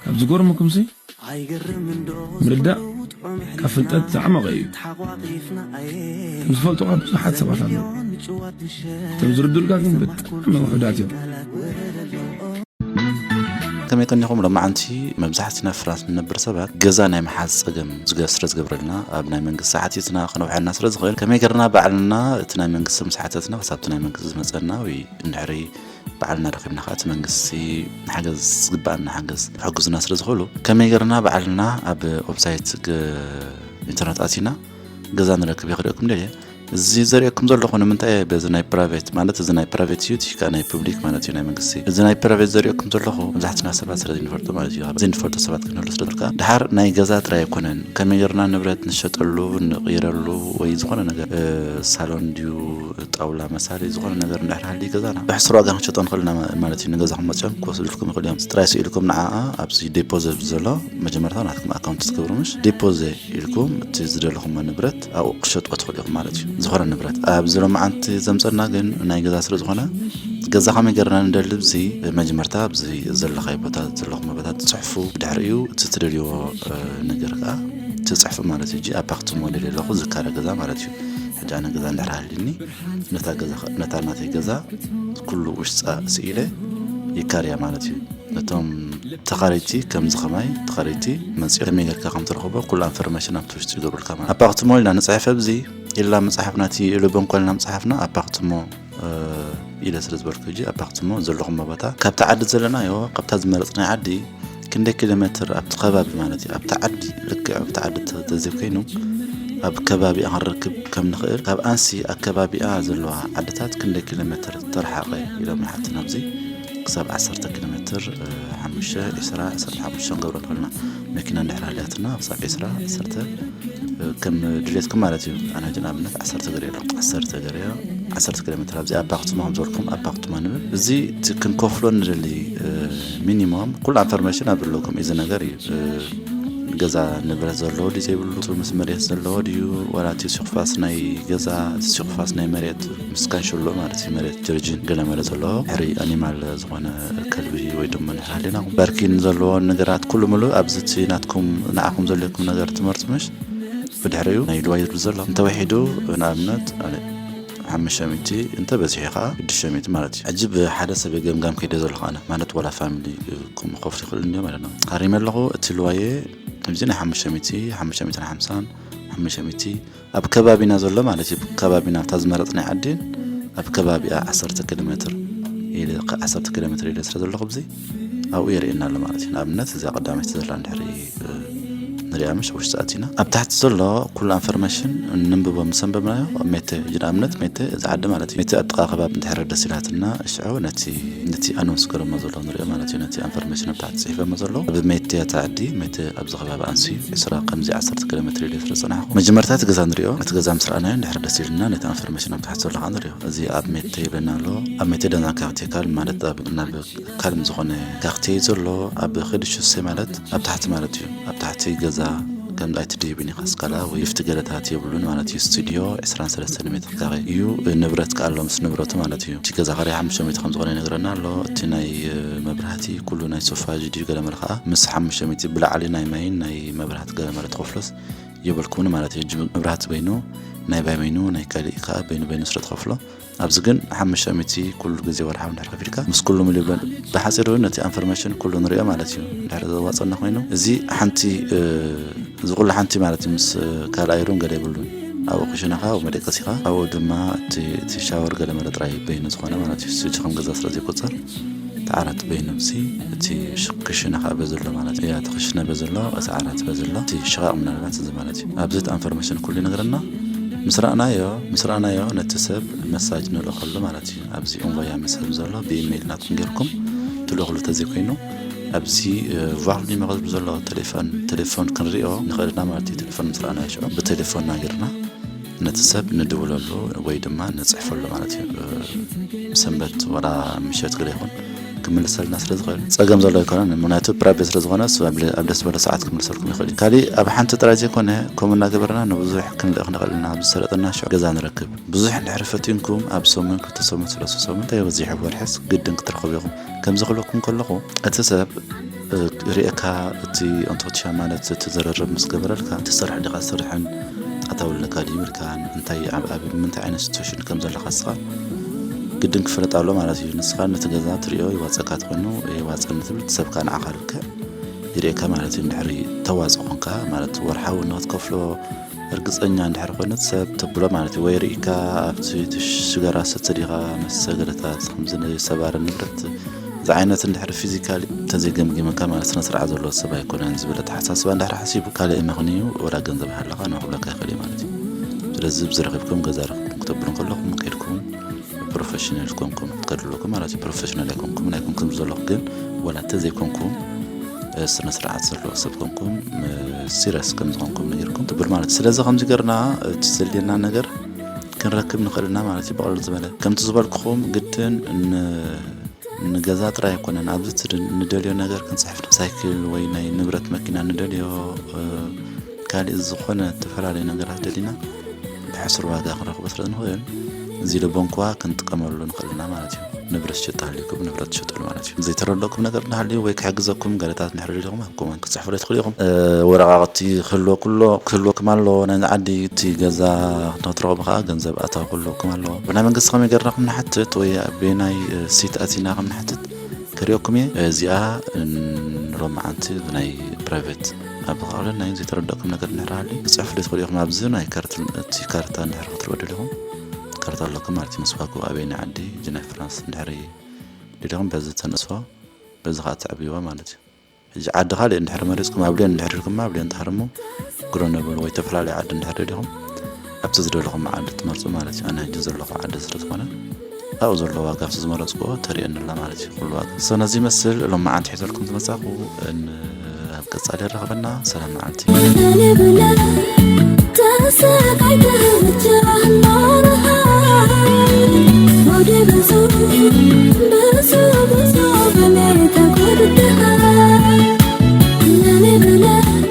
ካብ ዝገርመኩም ሲ ምርዳእ ካብ ፍልጠት ዝዓመቐ እዩ ከም ዝፈልጡኻ ብዙሓት ሰባት ኣለዉ እቶም ዝርድኡልካ ግን ብጣዕሚ ውሑዳት እዮም ከመይ ቀኒኹም ሎማዓንቲ መብዛሕትና ፍራንስ ንነብር ሰባት ገዛ ናይ መሓዝ ፀገም ስለ ዝገብረልና ኣብ ናይ መንግስቲ ሓቲትና ክነውሐና ስለ ዝኽእል ከመይ ገርና ባዕልና እቲ ናይ መንግስቲ ምስ ሓተትና ክሳብቲ ናይ መንግስቲ ዝመፀና ወይ እንድሕሪ ባዕልና ረኺብና ከኣ እቲ መንግስቲ ንሓገዝ ዝግብኣና ሓገዝ ክሕግዙና ስለ ዝኽእሉ ከመይ ገርና ባዕልና ኣብ ዌብሳይት ኢንተርነት ኣቲና ገዛ ንረክብ የኽደኩም ደ እዚ ዘርእየኩም ዘለኹ ንምንታይ በዚ ናይ ፕራይቬት ማለት እዚ ናይ ፕራይቬት እዩ እቲ ናይ ፑብሊክ ማለት እዩ ናይ መንግስቲ እዚ ናይ ፕራይቬት ዘርእየኩም ዘለኹ መብዛሕትና ሰባት ስለ ዘይንፈልጦ ማለት እዩ ዘይንፈልጦ ሰባት ክንህሉ ስለ ዝልካ ድሓር ናይ ገዛ ጥራይ ኣይኮነን ከመይ ጌርና ንብረት ንሸጠሉ ንቕይረሉ ወይ ዝኾነ ነገር ሳሎን ድዩ ጣውላ መሳሊ ዝኾነ ነገር እንድሕር ሃልዩ ገዛና ብሕሱር ዋጋ ክንሸጦ ንኽእል ኢና ማለት እዩ ንገዛኹም መፅኦም ክወስዱልኩም ይኽእሉ እዮም ጥራይ ስኢልኩም ንዓኣ ኣብዚ ዴፖዘ ዘሎ መጀመርታ ናትኩም ኣካውንት ትገብሩ ምሽ ዴፖዘ ኢልኩም እቲ ዝደለኹሞ ንብረት ኣብኡ ክሸጥዎ ትኽእሉ ኢኹም ማለት እዩ ዝኾነ ንብረት ኣብዚ ሎማዓንቲ ዘምፀና ግን ናይ ገዛ ስለ ዝኾነ ገዛ ከመይ ገርና ንደሊ ብዚ መጀመርታ ኣብዚ ዘለኻይ ቦታ ዘለኹም ቦታ ትፅሕፉ ድሕሪ እዩ እቲ ትደልይዎ ነገር ከዓ ትፅሕፉ ማለት እዩ ኣብ ባክቲ ሞዴል ኣለኹ ዝካረ ገዛ ማለት እዩ ሕጂ ኣነ ገዛ እንድሕር ሃልዩኒ ነታ ናተይ ገዛ ኩሉ ውሽጣ ስኢለ ይካርያ ማለት እዩ ነቶም ተኻረይቲ ከምዚ ከማይ ተኻረይቲ መፅኦ ከመይ ጌርካ ከም ትረኽቦ ኩሉ ኣንፈርሜሽን ኣብቲ ውሽጢ ይገብሩልካ ማለት ኣፓክትሞ ኢልና ንፅሕፍ ኣብዚ ኢላ መፅሓፍና እቲ ኢሉ በንኮልና መፅሓፍና ኣፓክትሞ ኢለ ስለ ዝበልኩ ሕጂ ኣባክትሞ ዘለኹም ቦታ ካብቲ ዓዲ ዘለናዮ ካብታ ዝመረፅናይ ዓዲ ክንደይ ኪሎ ሜትር ኣብቲ ከባቢ ማለት እዩ ኣብቲ ዓዲ ልክዕ ኣብቲ ዓዲ ተዘይኮይኑ ኣብ ከባቢኣ ክንረክብ ከም ንኽእል ካብ ኣንሲ ኣከባቢኣ ዘለዋ ዓድታት ክንደይ ኪሎ ሜትር ተረሓቐ ኢሎም ሓቲ ናብዚ ክሳብ ዓሰርተ ኪሎ ሜትር ሓሙሽተ ዕስራ ዓሰርተ ሓሙሽተ ክንገብሮ ንኽእልና መኪና እንድሕር ኣልያትና ክሳብ ዕስራ ዓሰርተ ከም ድሌትኩም ማለት እዩ ኣነ ሕጂ ንኣብነት ዓሰርተ ገርዮ ኣሎ ዓሰርተ ገርዮ ዓሰርተ ኪሎ ሜትር ኣብዚ ኣብ ባክቱማ ከም ዝበልኩም ኣብ ባክቱማ ንብል እዚ እቲ ክንከፍሎ ንደሊ ሚኒሞም ኩሉ ኣንፈርሜሽን ኣብ ኣለኩም እዚ ነገር እዩ ገዛ ንብረት ዘለዎ ድዩ ዘይብሉ ምስ መሬት ዘለዎ ድዩ ዋላ እቲ ሲኩፋስ ናይ ገዛ ሲኩፋስ ናይ መሬት ምስ ካንሸሎ ማለት እዩ መሬት ጀርጂን ገለ መለ ዘለዎ ሕሪ ኣኒማል ዝኾነ ከልቢ ወይ ድማ ንሓሊና በርኪን ዘለዎ ነገራት ኩሉ ምሉእ ኣብዚ እቲ ናትኩም ንዓኹም ዘለኩም ነገር ትመርፁ ምሽ ብድሕሪኡ ናይ ድዋ ይብል ዘሎ እንተወሒዱ ንኣብነት ሓሙሽተ ሚእቲ እንተበዚሑ ከዓ ሽዱሽተ ሚእቲ ማለት እዩ ሕጂ ብሓደ ሰብ ገምጋም ከይደ ዘለኹ ኣነ ማለት ዋላ ፋሚሊ ከምኡ ክኸፍት ይኽእል እንዮ ማለት ነው ሃሪመ ኣለኹ እቲ ልዋየ ከምዚ ናይ ሓሙሽተ ሚእቲ ሓሙሽተ ሚእትን ሓምሳን ሓሙሽተ ሚእቲ ኣብ ከባቢና ዘሎ ማለት እዩ ከባቢና ኣብታ ዝመረፅናይ ዓዲ ኣብ ከባቢኣ ዓሰርተ ኪሎ ሜትር ኢለ ዓሰርተ ኪሎ ሜትር ኢለ ስለ ዘለኹ ብዚ ኣብኡ የርእየና ኣሎ ማለት እዩ ንኣብነት እዚኣ ቀዳመይቲ ዘላ እንድሕሪ ንሪኣ ምሽ ውሽጢ ኣቲና ኣብ ታሕቲ ዘሎ ኩሉ ኣንፈርሜሽን ንንብቦ ምስ ኣንበብናዮ ሜተ ንኣብነት ሜተ እዚ ዓዲ ማለት እዩ ሜተ ኣብ ጥቃ ከባቢ እንድሕር ደስ ኢላትና ሽዑ ነቲ ነቲ ኣነውንስ ገረሞ ዘሎ ንሪኦ ማለት እዩ ነቲ ኣንፈርሜሽን ኣብ ታሕቲ ፅሒፈሞ ዘሎ ኣብ ሜተ እቲ ዓዲ ሜተ ኣብዚ ከባቢ ኣንስዩ ዕስራ ከምዚ ዓሰርተ ኪሎ ሜትር ኢለ ስለ ፀናሕኩ መጀመርታ እቲ ገዛ ንሪኦ እቲ ገዛ ምስ ረኣናዮ እንድሕር ደስ ኢልና ነቲ ኣንፈርሜሽን ኣብ ታሕቲ ዘሎ ከዓ ንሪኦ እዚ ኣብ ሜተ ይብለና ኣሎ ኣብ ሜተ ደና ካርቴካል ማለት ናብ ካልም ዝኾነ ታክቲ ዘሎ ኣብ ክዲ ሹሴ ማለት ኣብ ታሕቲ ማለት እዩ ኣብ ታሕቲ ገዛ ከም ኣይትድይብን ኢኻ ስካላ ወይ ክፍቲ ገደታት የብሉን ማለት እዩ ስቱድዮ 23 ሜትር ካሬ እዩ ንብረት ከዓ ኣሎ ምስ ንብረቱ ማለት እዩ እቲ ገዛ ካሬ ሓሙሽተ ሚእቲ ከም ዝኾነ ይነግረና ኣሎ እቲ ናይ መብራህቲ ኩሉ ናይ ሶፋጅ ድዩ ገለመለ ከዓ ምስ ሓሙሽተ ሚእቲ ብላዕሊ ናይ ማይን ናይ መብራህቲ ገለመለ ተኸፍሎስ የብልኩምን ማለት እዩ መብራህቲ በይኑ ናይ ባይ በይኑ ናይ ካልእ ከዓ በይኑ በይኑ ስለ ተኸፍሎ ኣብዚ ግን ሓሙሽተ ሚእቲ ኩሉ ግዜ ወርሓዊ እንድሕር ከፊልካ ምስ ኩሉ ምል ይብሎ ብሓፂሩ ነቲ ኣንፈርሜሽን ኩሉ ንሪኦ ማለት እዩ እንድሕር ዘዋፀና ኮይኑ እዚ ሓንቲ እዚ ኩሉ ሓንቲ ማለት እዩ ምስ ካልኣ ይሩን ገለ ይብሉን ኣብኡ ክሽናኻ ኣብ መደቀሲኻ ኣብኡ ድማ እቲ ሻወር ገለ መለ ጥራይ በይኑ ዝኾነ ማለት እዩ ስጅ ከም ገዛ ስለ ዘይቆፀር እቲ ዓራት በይኑ ሲ እቲ ክሽነ ከኣ በዚ ኣሎ ማለት እዩ። እቲ ክሽነ በዚ ኣሎ እቲ ዓራት በዚ ኣሎ እቲ ሽቓቕ ምናልባት እዚ ማለት እዩ። ኣብዚ ትኣንፎርመሽን ኩሉ ይነግረና ምስ ረኣናዮ ምስ ረኣናዮ ነቲ ሰብ መሳጅ ንልእኸሉ ማለት እዩ። ኣብዚ እንቮያ መሰል ዘሎ ብኢመይል ናትኩም ጌርኩም ትልእኹሉ ተዘይ ኮይኑ ኣብዚ ቫልዩ መቐዝብ ዘሎ ቴሌፎን ቴሌፎን ክንሪኦ ንኽእል ኢና ማለት እዩ። ቴሌፎን ምስ ረኣናዮ ሽዑ ብቴሌፎንና ጌርና ነቲ ሰብ ንድውለሉ ወይ ድማ ንፅሕፈሉ ማለት እዩ ሰንበት ወላ ምሸት ግደ ይኹን ክምልሰልና ስለ ዝኽእል ፀገም ዘሎ ኣይኮነን ምክንያቱ ፕራይቬት ስለ ዝኾነ ኣብ ደስ ዝበለ ሰዓት ክምልሰልኩም ይኽእል እዩ ካሊእ ኣብ ሓንቲ ጥራይ ዘይኮነ ከምኡ እናገበርና ንብዙሕ ክንልእኽ ንኽእል ኢና ኣብ ዝሰለጠና ሽዑ ገዛ ንረክብ ብዙሕ እንድሕር ፈቲንኩም ኣብ ሰሙን ክልተ ሰሙን ሰለስተ ሰሙን እንተይበዚሑ ወርሕስ ግድን ክትረኽቡ ኢኹም ከምዚ ክብለኩም ከለኹ እቲ ሰብ ሪኤካ እቲ ኣንቶት ሻማነት እቲ ዘረርብ ምስ ገበረልካ ትሰርሕ ዲኻ ስርሕን ጣታዊ ልነካ ድዩ ኢልካን እንታይ ኣብ ኣብ ምንታይ ዓይነት ሲትዌሽን ከም ዘለካ ንስኻ ግድን ክፍለጥ ኣሎ ማለት እዩ ንስኻ ነቲ ገዛ ትሪኦ ይዋፀካ ትኮይኑ የዋፀኒ ትብል እቲ ሰብካ ንዓኻ ልክዕ ይሪኤካ ማለት እዩ ድሕሪ ተዋፅ ኮንካ ማለት ወርሓዊ ንክትከፍሎ እርግጸኛ እንድሕር ኮይነት ሰብ ተብሎ ማለት እዩ ወይ ርኢካ ኣብቲ ሽገራ ሰቲ ዲኻ ምስ ሰገረታት ከምዚ ንሰባሪ ንብረት ዝዓይነት እንድሕር ፊዚካሊ ተዘይገምጊመካ ማለት ስነ ስርዓት ዘለዎ ሰብ ኣይኮነን ዝብል ኣተሓሳስባ እንድሕር ሓሲቡ ካልእ ምኽንዩ ወላ ገንዘብ ሃለኻ ናኹለካ ይኽእል ማለት እዩ ስለዚ ብዝረኺብኩም ገዛ ረኽብኩም ክተብሉ ከለኹም ከድኩም ፕሮፌሽናል ኮንኩም ትከዱ ኣለኩ ማለት እዩ ፕሮፌሽናል ኣይኮንኩም ናይ ኮንኩም ዘለኹ ግን ወላ እንተ ዘይኮንኩም ስነ ስርዓት ዘለዎ ሰብ ኮንኩም ሲሪየስ ከም ዝኾንኩም ነገርኩም ትብል ማለት እዩ ስለዚ ከምዚ ገርና እቲ ዘድልየና ነገር ክንረክብ ንኽእል ኢና ማለት እዩ ብቐሉ ዝበለ ከምቲ ዝበልኩኹም ግድን ንገዛ ጥራይ ኣይኮነን ኣብዚ እቲ ንደልዮ ነገር ክንፅሕፍ ሳይክል ወይ ናይ ንብረት መኪና ንደልዮ ካልእ ዝኾነ ዝተፈላለዩ ነገራት ደሊና ብሕሱር ዋጋ ክንረክቦ ስለ ንኽእል እዚ ልቦንኩዋ ክንጥቀመሉ ንኽእል ኢና ማለት እዩ ንብረት ሽጥ ሃልዩኩም ንብረት ትሸጠሉ ማለት እዩ ዘይተረደኩም ነገር እናሃልዩ ወይ ክሕግዘኩም ገለታት ንሕሪ ሊኹም ኣብ ኮመንት ክፅሕፉ ትኽእሉ ኢኹም ወረቃቅቲ ክህልዎ ኩሎ ክህልወኩም ኣለዎ ናይ ዓዲ እቲ ገዛ ንክትረኽቡ ከዓ ገንዘብ ኣታዊ ክህልወኩም ኣለዎ ብናይ መንግስቲ ከመይ ገርና ከም ንሓትት ወይ ብናይ ሲት ኣቲና ከም ንሓትት ክሪኦኩም እየ እዚኣ ሎሚ መዓንቲ ብናይ ፕራይቬት ኣብ ብቐዕሉ ናይ ዘይተረደእኩም ነገር እንድሕር ሃልዩ ክጽሕፍ ዶ ትኽእሉ ኢኹም ኣብዚ ናይ እቲ ካርታ እንድሕር ክትሪኡ ደሊኹም ካርታ ኣለኩም ማለት እዩ ምስ ዋግኡ ኣበየናይ ዓዲ ጅናይ ፍራንስ እንድሕር ደሊኹም በዚ ተንእስዋ በዚ ከዓ ተዕብይዋ ማለት እዩ ሕጂ ዓዲ ካልእ እንድሕር መሪፅኩም ኣብ ልዮን እንድሕር ኢልኩማ ኣብ ልዮን ትሃርሙ ግሮነብል ወይ ተፈላለዩ ዓዲ እንድሕር ደሊኹም ኣብቲ ዝደለኹሞ ዓዲ እትመርጹ ማለት እዩ። ኣነ ሕጂ ዘለኹ ዓዲ ስለ ዝኾነ ኣብኡ ዘሎ ዋጋ ኣብቲ ዝመረጽኩዎ ተርእየኒ ኣላ ማለት እዩ ኩሉ ዋጋ። ሰው ነዚ ይመስል ሎማዓንቲ ሒዘልኩም ዝመጻኹ ኣብ ቀጻሊ የራኽበና ሰላም መዓልቲ። Thank you.